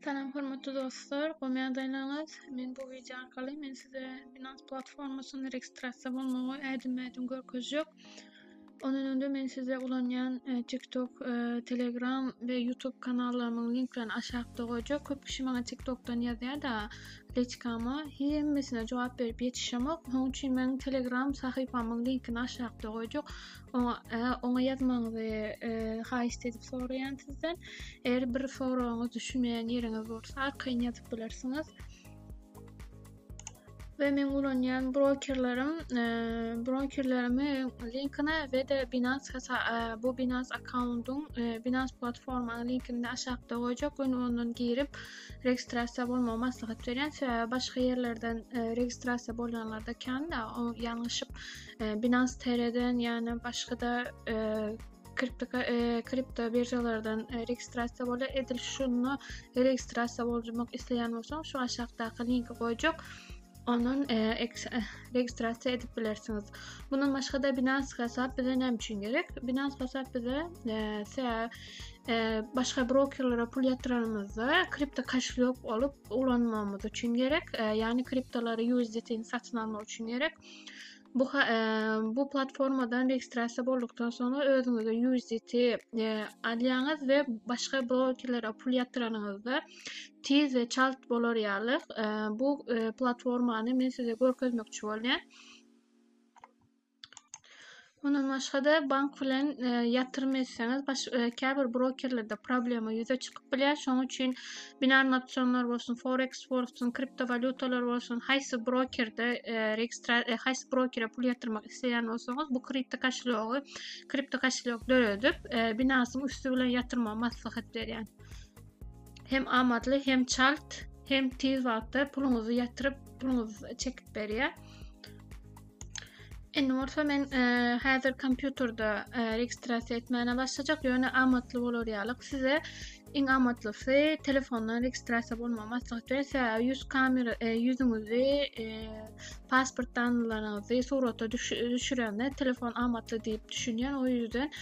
Salam hormatly dostlar, gowy ýagdaýlaryňyz? Men bu wideo arkaly men size Binance platformasyny registrasiýa bolmagy ädim-ädim görkezjek. Ondan öňde men size ulanýan e, TikTok, e, Telegram we YouTube kanallarymyň linklerini aşakda goýjak. Köp kişi maňa TikTokdan ýazýar-da, leçkama hemmesine jogap berip ýetişemok. Şonuň üçin meniň Telegram sahypamyň linkini aşakda goýjak. oňa ýazmagyňyzy e, haýyşt edip soraýan sizden. Eger bir soragyňyz düşünmeýän ýeriňiz bolsa, arkaýyn ýazyp bilersiňiz. Ve men ulanýan brokerlerim, e, brokerlerimi linkine ve de Binance hesa, e, bu Binance akkauntun, e, Binance platformanyň linkini aşakda goýjak. Ön ondan girip registrasiýa bolmagy maslahat berýän. Sebäbi başga ýerlerden e, registrasiýa bolýanlarda kän-de, o ýalňyşyp Binance TR-den ýa-da başga-da e, kripto e, kripto biržalardan e, registrasiýa bolýar. Edil şunda registrasiýa bolmak isleýän bolsaň, şu aşakdaky linki goýjak. Ondan registrasiýa edip bilersiňiz. Bundan başga-da Binance hasap bize näme üçin gerek? Binance hasap bize e, başga brokerlere pul ýatyranymyzda kripto kошелек bolup ulanmamyz üçin gerek. E, ýagny kriptolary USDT-ni satyn almak üçin gerek. Bu e, bu platformadan registrasiýa boldukdan soňra özüňize USDT e, alýaňyz we başga brokerlere pul ýatyranyňyzda tiz we çalt bolar ýaly e, bu platformany men size görkezmekçi bolýan. Mundan başga-da bank bilen e, ýatyrym etseňiz, baş, e, käbir brokerlerde problema ýüze çykyp bilýär. Şonuň üçin binarny opsionlar bolsun, forex bolsun, kriptowalýutalar bolsun, haýsy brokerde e, registra e, haýsy brokere pul ýatyrmak isleýän bolsaňyz, bu kripto koşelýogy, kripto koşelýok döredip, e, binarsyň üsti bilen ýatyrmagy maslahat berýän. Hem amatly, hem çalt, hem tiz wagtda puluňyzy ýatyryp, puluňyzy çekip berýär. Indi bolsa men e, häzir kompýuterde e, registrasiýa etmäne başlajak, ýöne amatly bolar ýaly size iň amatlysy telefondan registrasiýa bolmagy maslahat berýär. Sebäbi ýüz kamera e, ýüzüňizi, e, pasport danlaryňyzy surata düşürende telefon amatly diýip düşünýän. O ýüzden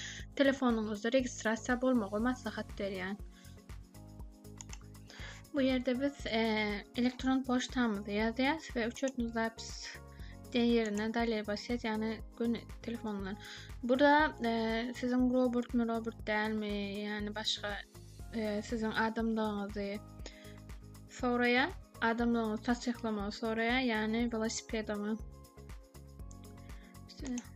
telefonyňyzda registrasiýa bolmagy maslahat berýän. Bu ýerde biz e, elektron poçtamyzy ýazýarys we uçotny zapis diýen ýerine dalýa basýas, ýagny gün telefon bilen. Burada e, siziň robot mu, robot dälmi, ýagny başga e, siziň adamlygyňyzy soraýa, adamlygyňyzy tassyklamagy soraýa, ýagny velosipedimi. İşte.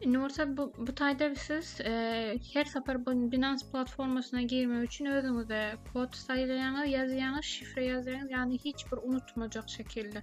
Indi bolsa bu, bu taýda siz e, her sapar bu Binance platformasyna girmek üçin özüňize kod saýlaýaňyz, ýazýaňyz, şifre ýazýaňyz, ýagny hiç bir unutmajak şekilde.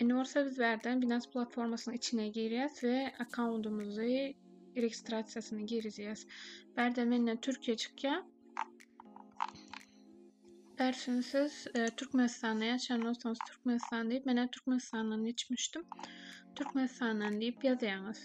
Indi bolsa biz bärden Binance platformasynyň içine girýäs we akkauntymyzy registrasiýasyny girizýäs. Bärde menden Türkiýe çykýar. Bärsin siz e, Türkmenistanda ýaşaýan bolsaňyz Türkmenistan diýip, men hem Türkmenistandan geçmişdim. Türkmenistandan diýip ýazýaňyz.